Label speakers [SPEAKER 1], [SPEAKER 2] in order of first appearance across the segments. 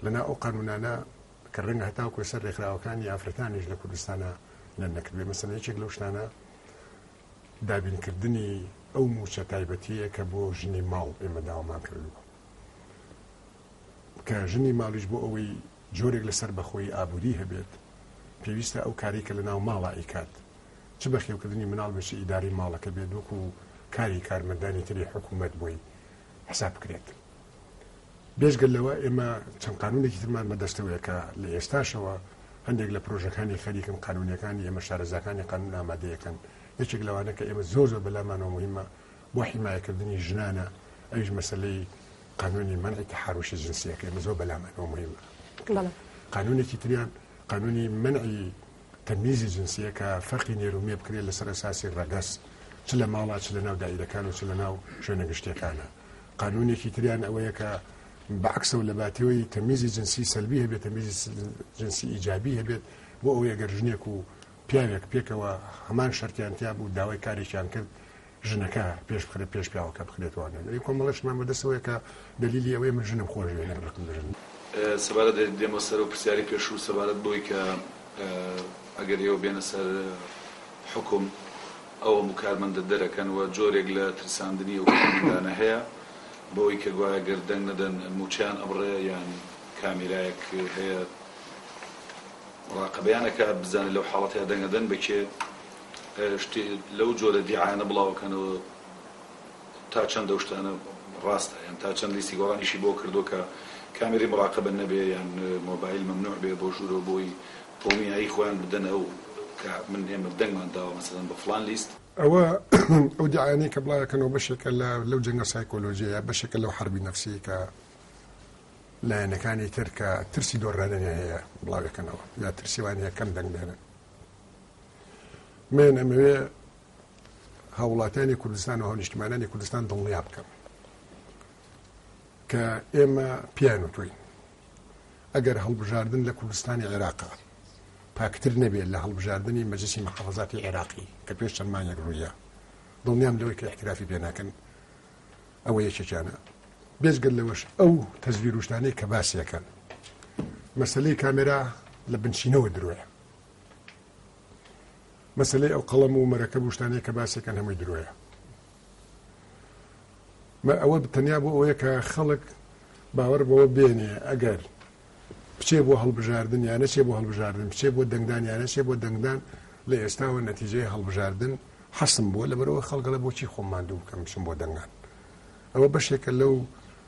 [SPEAKER 1] لە ناو ئەو قانوونانە کە ڕەنگە هەتاوکو لەسەر ڕێکخراوەکانی ئافرەتانیش لە کوردستانە لە نەکردێ مەسەن یەکێک لەو شتانە دابینکردنی ئەو موچە تایبەتیە کە بۆ ژنی ماڵ ئێمە داوامان کردووە کە ژنی ماڵیش بۆ ئەوەی جۆرێک لەسەر بەخۆی ئابووری هەبێت پێویستە ئەو کاری کە لە ناو ماڵە ئیکات چ بەخێوکردنی مناڵ بچ ئیداری ماڵەکە بێت وەکو کاری کارمەندانی تری حکوومەت بۆی حساب بکرێت بێجگە لەوە ئێمە چەند قانونێکی ترمان بەدەستەوەیە کە لە ئێستاشەوە هەندێک لە پرۆژەکانی خەریکن قانونەکانی ئێمە شارەزاکانی قانون ئامادەیەکەن یەکێک لەوانە کە ئێمە زۆر زۆر بەلامانەوە مهمە بۆ حیمایەکردنی ژنانە ئەوش مەسلەی قانونی منعی تحرشی جنسیەکە ئێمە زۆر بەلامانەوە مهمە قانونێکی تریان قانونی منعی تەمیزی جنسیە کە فەرقی نێرومێ بکرێت لەسەر ئەساسی ڕەگەست چ لە ماڵا چ لە ناو دایرەکان و چ لە ناو شوێنە گشتەکانە قانونێکی تریان ئەوەیە کە بەعکسەوە لە باتیەوەی تەمیزی جنسی سەلبی هەبێت تەمیزی جنسی ئیجابی هەبێت بۆ ئەوەیە گەر ژنێک و پیاوێک پێکەوە هەمان شەرتیان تیا بوو داوای کارێکیان کرد ژنەکە پێش بخرە پێش پیاوەکە بخرێتوانێت لەی کۆمەڵشمان بەدەستەوەی کە دلیلی ئەوەیە من ژنم خۆش نەکڕم ژن سەبارەت دێمە سەر و پرسیاری پێشوو سەبارەت
[SPEAKER 2] بۆی کە ئەگەر ئێوە بێنە سەر حکوم ئەو هەموو کارمەندە دەرەکەن و جۆرێک لە ترساندنی ئەو کارمەندانە هەیە بەوەی کە گوایە گەر دەنگ نەدەن مووچەیان ئەبڕێ یان کامێرایەک هەیە مراقەبەیان ئەکات بزانێت لەو حاڵەتەیا دەنگ ئەدەن بە کێ شتێ لەو جۆرە دیعایانە بڵاو ئەکەنەوە تا چەند ئەو شتانە ڕاستە یان تا چەند لیستی گۆڕانیشی بۆ کردووە کە کامێرەی مراقەبە نەبێ یان مۆبایل مەمنوع بێ بۆ ژوورەوە بۆی هۆمینایی خۆیان بدەن ئەو کە من ئێمە دەنگمان داوە مەسەلەن بە
[SPEAKER 1] فڵان لیست. ئەوە ئەو دیعایانەی کە بڵاوی ئەکەنەوە بەشێکە لە لەو جەنگە سایکۆلۆژیەیە بەشێکە لەو حەربی نەفسیەی کە لایەنەکانی تر کە ترسی دۆڕانیان هەیە بڵاوی ئەکەنەوە یا ترسیوان هەیە کەم دەنگ بێنن من ئەمەوێ هاوڵاتیانی کوردستان و هەونیشتمانانی کوردستان دڵنیا بکەم کە ئێمە پیان و توین ئەگەر هەڵبژاردن لە کوردستانی عێراقا پاکتر نەبێت لە هەڵبژاردنی مەجلیسی محافزاتی عێراقی کە پێش چەند مانگێک ڕوویە دڵنیام لەوەی کە احترافی پێ ناکەن ئەوە یەکێکیانە بێزگەل لەوەش ئەو تەزویروشتانەی کە باسیەکەن مەسلەی کامێرا لە بنچینەوە درۆیە مەسلەی ئەو قەڵەم و مەرەکە بوشتانەیە کە باسەکەن هەمووی درۆیە مە ئەوە تەنیا بۆ ئەوەیە کە خەڵک باوەڕ بەوە بێنێ ئەگەر بچێ بۆ هەڵبژاردن یا نەچێ بۆ هەڵبژاردن بچێ بۆ دەنگدان یا نەچێ بۆ دەنگدان لە ئێستاوە نەتیجەی هەڵبژاردن حەسم بووە لەبەرەوە خەڵکەڵە بۆچی خۆم ماندوو بکەم بچم بۆ دەنگان ئەوە بەشێکە لەو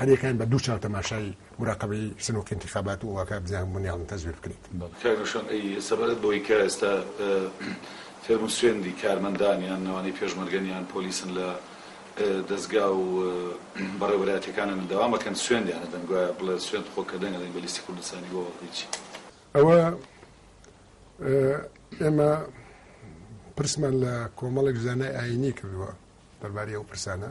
[SPEAKER 1] هەریەکەیان بە دوو چاو تەماشای موراقەبەی سنووقی انتخابات و ئەوەکە بزانن هەموویان تەزویر بکریت. کاک روشن ئەی
[SPEAKER 2] سەبارەت بەوەی کە ئێستا فێرم و سوێندی کارمەندان یان ئەوانەی پێشمەرگەن یان پۆلیسن لە دەزگا و بەڕێوەبەرایەتیەکانە منداوان بەکەن سوێندیان ئەدەن گوایە بڵێ سوێند خۆ کە دەنگ ئەدەین بە لیستی کوردستانی بۆ هیچی ئەوە
[SPEAKER 1] ئێمە پرسمان لە کۆمەڵێک زانای ئاینی کردووە دەربارەی ئەو پرسانە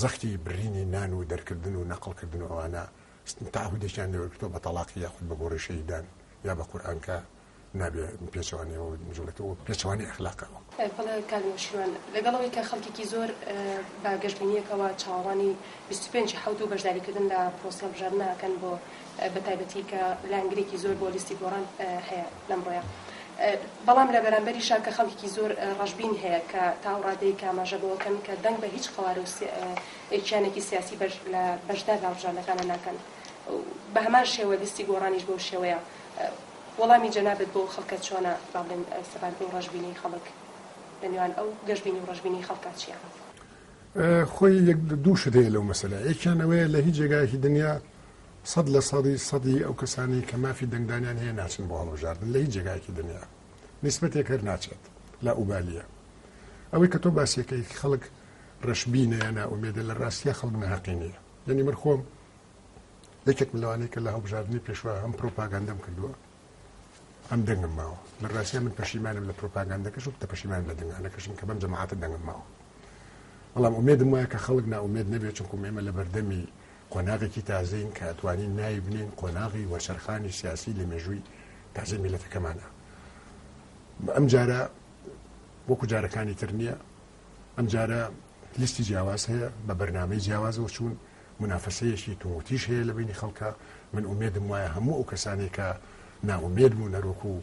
[SPEAKER 1] زەختی برینی نان و دەرکردن و نەقڵ کردن و ئەوانە تاهودێکیان لێوەرگرتەوە بە تەڵاقی یاخود بە گۆڕی شەیدان یا بە قورئان کە نابێ پێچەوانەوە جوڵێتەوە پێچەوانەی ئەخلاقەوە. بەڵێ کاک
[SPEAKER 3] نەوشیروان، لەگەڵ ئەوەی کە خەڵکێکی زۆر بە گەشبینییەکەوە چاوەڕوانی بیست و پێنج ی حەوت و بەشداریکردن لە پرۆسە هەڵبژاردنە ئەکەن بۆ بە تایبەتی کە لایەنگرێکی زۆر بۆ لیستی گۆڕان هەیە لەم ڕۆیە بەڵام لە بەرامبەریشا کە خەڵکیکی زۆر ڕەشبین هەیە کە تاو ڕادەیەک ئاماژە بەوەکەن کە دەنگ بە هیچ قەوارە و کیانێکی سیاسی بەش لە بەشدار لە هەڵبژاردنەکانە ناکەن و بە هەمان شێوە لیستی گۆڕانیش بەو شێوەیە وەڵامی جەنابت بۆ ئەو خەڵکە چۆنە با بڵێن سەبارەت بەو ڕەشبینەی خەڵک لە نێوان ئەو گەشبینی و ڕەشبینی خەڵکا چییە؟
[SPEAKER 1] خۆی یەک دوو شت هەیە لەو مەسەلە یەکیان ئەوەیە لە هیچ جێگایەکی دنیا سەد لە سەدی سەدی ئەو کەسانەی کە مافی دەنگدانیان هەیە ناچن بۆ هەڵبژاردن لە هیچ جێگایەکی دنیا نیسبەتێک هەر ناچێت لا ئوبالیە ئەوەی کە تۆ باسیەکەی خەڵک ڕەشبینە یا نائومێدە لە ڕاستیە خەڵک ناقی نییە یعنی من خۆم یەکێک ملوانەی کە لە هەڵبژاردننی پێشوە هەم پرۆپاگەندەم کردووە ئەم دەنگم ماوە لە ڕاستە من پەشیمانم لە پرۆپاگەندەکەش و تەپەشیمان لە دەنگانەکەشم کە بەم جەماعاتە دەنگم ماوە بەڵام ئومێدم وایە کە خەڵک ناومێت نەبێت چونکم ئێمە لە بەردەمی قۆناغێکی تازەین کە ئەتوانین ناوی بنێین قۆناغی وەرچەرخانی سیاسی لە مێژووی تازەی میلەتەکەمانە ئەم جارە وەکو جارەکانی تر نییە ئەم جارە لیستی جیاواز هەیە بە بەرنمەی جیاوازەوە چوون منافەسەیەشی تووتیش هەیە لە بینی خەڵکە من ئومێدم وایە هەموو ئەو کەسانێکە ناومێد بوو نەرۆک و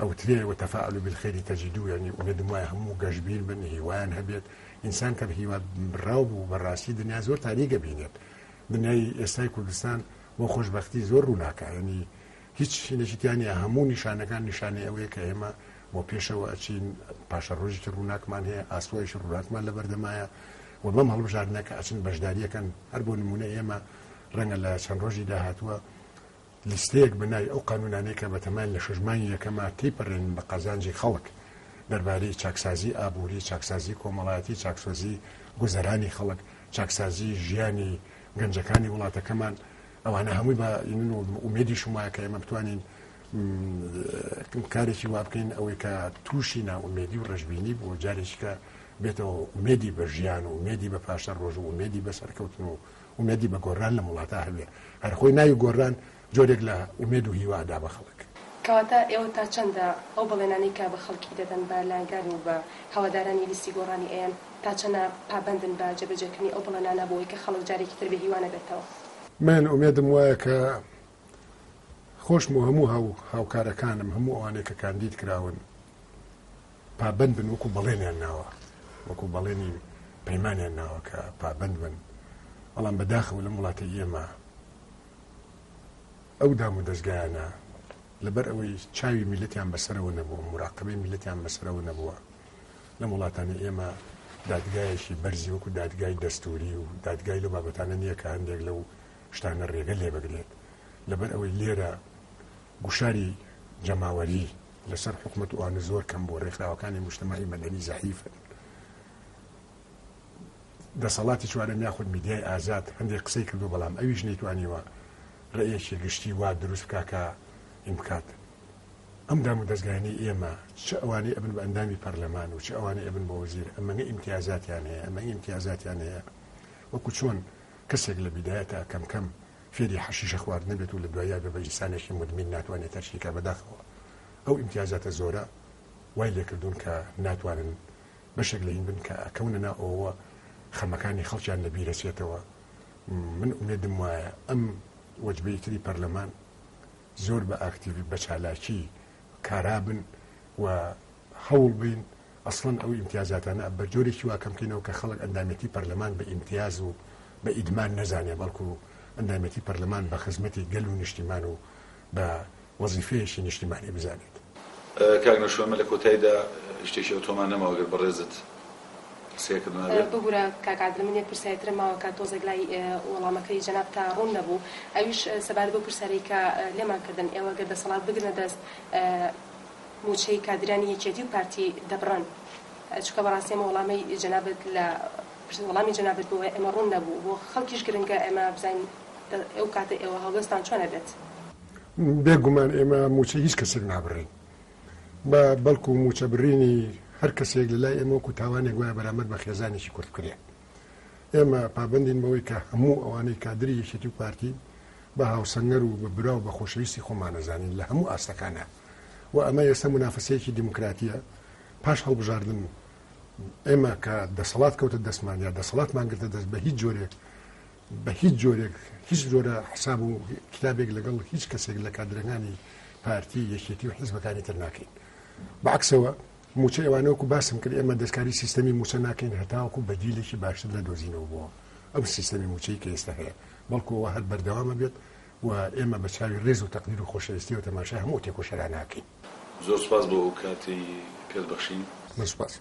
[SPEAKER 1] ئەوترێ، وتفاءلوا بالخیر تجدوه، یانی ئومێدم وایە هەموو گەشبین بن، هیوایان هەبێت، ئینسان کە بەهیوا بڕاو بوو بەڕاستی دنیا زۆر تاریک ئەبینێت، دنیای ئێستای کوردستان بۆ خۆشبەختی زۆر ڕووناکە، یانی هیچ شینێکی تیا نییە، هەموو نیشانەکان نیشانەی ئەوەیە کە ئێمە بۆ پێشەوە ئەچین، پاشەڕۆژێکی ڕووناکمان هەیە، ئاسۆیەکی ڕووناکمان لەبەردەمایە و بەم هەڵبژاردنە کە ئەچن بەشداری ئەکەن، هەر بۆ نموونە ئێمە ڕەنگە لە چەند ڕۆژی داهاتووە، لیستەیەک بە ناوی ئەو قانوونانەی کە بەتەمایان لە شەش مانگی یەکەما تێیپەرێنن بە قازانجی خەڵک دەربارەی چاکسازیی ئابووری، چاکسازیی کۆمەڵایەتی، چاکسۆزیی گوزەرانی خەڵک، چاکسازیی ژیانی گەنجەکانی وڵاتەکەمان، ئەوانە هەمووی بە ینن و ئومێدیشم وایە کە ئێمە بتوانین کارێکی وا بکەین ئەوەی کە تووشی نائومێدی و ڕەشبینی بووە جارێکیکە بێتەوە ئومێدی بە ژیان و ئومێدی بە پاشەڕۆژ و ئومێدی بە سەرکەوتن و ئومێدی بە گۆرران لەم وڵاتا هەبێ. هەر خۆی ناوی گۆرران جۆرێک لە ئومێد و هیوا ئەدا بە خەڵک. کەواتە ئێوە تا
[SPEAKER 3] چەندە ئەو بەڵێنانەی کە بە خەڵکی دەدەن، بە لایەنگران و بە هەوادارانی لیستی گۆڕانی ئەیەن، تا چەنە پابەندن بە جێبەجێکردنی ئەو بەڵێنانە بۆ ئەوەی کە خەڵک جارێکی تر بێ هیوا نەبێتەوە؟ من ئومێدم وایە کە
[SPEAKER 1] خۆشم و هەموو هاوکارەکانم، هەموو ئەوانەی کە کاندید کراون پابەند بن وەکو بەڵێنیان ناوە، وەکو بەڵێنی پەیمانیان ناوە کە پابەند بن، بەڵام بەداخەوە لەم وڵاتەی ئێمە ئەو دام و دەستگایانە لەبەر ئەوەی چاوی میلەتیان بەسەرەوە نەبووە مراقبەی میلەتیان بەسەرەوە نەبووە لەم وڵاتانی ئێمە دادگایەکی بەرزی وەکو دادگای دەستوری و دادگای لە بابەتانە نییە کە هەندێک لەو شتانە رێگە لێبگرێت، لەبەر ئەوەی لێرە گوشاری جەماوەری لەسەر حکومەت و ئانە زۆر کەم بووە، رێکخراوەکانی موجتەمەعی مەدەنی زەعیفن. دەسەڵاتی چوارەم یاخود میدیای ئازاد هەندێک قسەی کردووە، بەڵام ئەویش نەیتوانیوە رەئیەکی گشتی وا دروست بکا کە ین بکات. ئەم دام و دەزگایانەی ئێمە چ ئەوانەی ئەبن بە ئەندامی پەرلەمان و چ ئەوانەی ئەبن بە وەزیر ئەمەنە ئیمتیازاتیان هەیە، ئەمە ئیمتیازاتیان هەیە وەکو چۆن، کەسێک لە بیدایەتا کەم کەم فێری حەشیشە خواردنە بێت و لە دواییا بێ بە ئینسانێکی مودمین ناتوانێ تەرکی کا بەداخەوە ئەو ئیمتیازاتە زۆرە وای لێ کردوون کە ناتوانن بەشێک لە هین بن کە ئەکەونە نا ئەوەوە خەمەکانی خەڵکیان لە بیرە چێتەوە من ئومێدم وایە ئەم وەجبەی تری پەرلەمان زۆر بە ئاکتیڤی بە چالاکی کارابن و هەوڵ بەین ئەسڵەن ئەو ئیمتیازاتانە بە جۆرێکی وا کەم کەینەوە کە خەڵک ئەندامێتی پەرلەمان بە ئیمتیاز و بە ئیدمان نەزانێ بەڵکو ئەندامێتی پەرلەمان بە خزمەتی گەل و نیشتیمان و بە وەزیفەیەکی نیشتیمانی بزانێت. کاک
[SPEAKER 2] نەشوەمە لە کۆتایدا شتێکی ئەوتۆمان نەماوە گەر بەڕێزت قسەیەکم نەبێ. ببورە
[SPEAKER 3] کاک عادل من یەک پرسیاری ترم ماوە کە تۆزێک لای وەڵامەکەی جەنابتا ڕوون نەبوو ئەویش سەبارەت بەو پرسیارەی کە لێمان کردن ئێوە گەر دەسەڵات بگرنە دەست موچەی کادیرانی یەکێتی و پارتی دەبڕن چونکە بەڕاستی ئەمە وەڵامەی جەنابت لە وەڵامی جەنابت بۆ ئێمە ڕوون نەبوو بۆ خەڵکیش گرنگە ئێمە بزانین ئەو کاتە ئێوە هەڵوێستان چۆن ئەبێت. بێ
[SPEAKER 1] گومان ئێمە موچەی هیچ کەسێک نابڕین. بە بەڵکو مووچە بڕینی هەر کەسێک لە لای ئێمە وەکو تاوانێک وایە بەرامبەر بە خێزانێکی کورد بکرێ. ئێمە پابەندین بەوەی کە هەموو ئەوانەی کادری یەکێتی و پارتی بە هاوسەنگەر و بە برا و بە خۆشەویستی خۆمان ئەزانین لە هەموو ئاستەکانا و ئەمە ئێستا مونافەسەیەکی دیموکراتیە پاش هەڵبژاردن ئێمە کە دەسەڵات کەوتە دەستمان یا دەسەڵاتمان گرتە دەست بە هیچ جۆرێک بە هیچ جۆرێک هیچ جۆرە حساب و کتابێک لەگەڵ هیچ کەسێک لە کادرەکانی پارتی یەکێتی و حیزبەکانی تر ناکەین بەعکسەوە موچە ئەوانەوەکو باسم کرد ئێمە دەستکاری سیستەمی موچە ناکەین هەتاوەکو بەدیلێکی باشتر لە دۆزینەوە بووە ئەم سیستەمی موچەی کە ئێستا هەیە بەڵکوەوە هەر بەردەوامە بێت و ئێمە بە چاوی ڕێز و تەقدیر و خۆشەویستی و تەماشا هەموو تێکۆشەرا ناکەین زۆر سپاس بۆ
[SPEAKER 2] ئەو کاتی پێت بەخشین.
[SPEAKER 1] من سوپاس.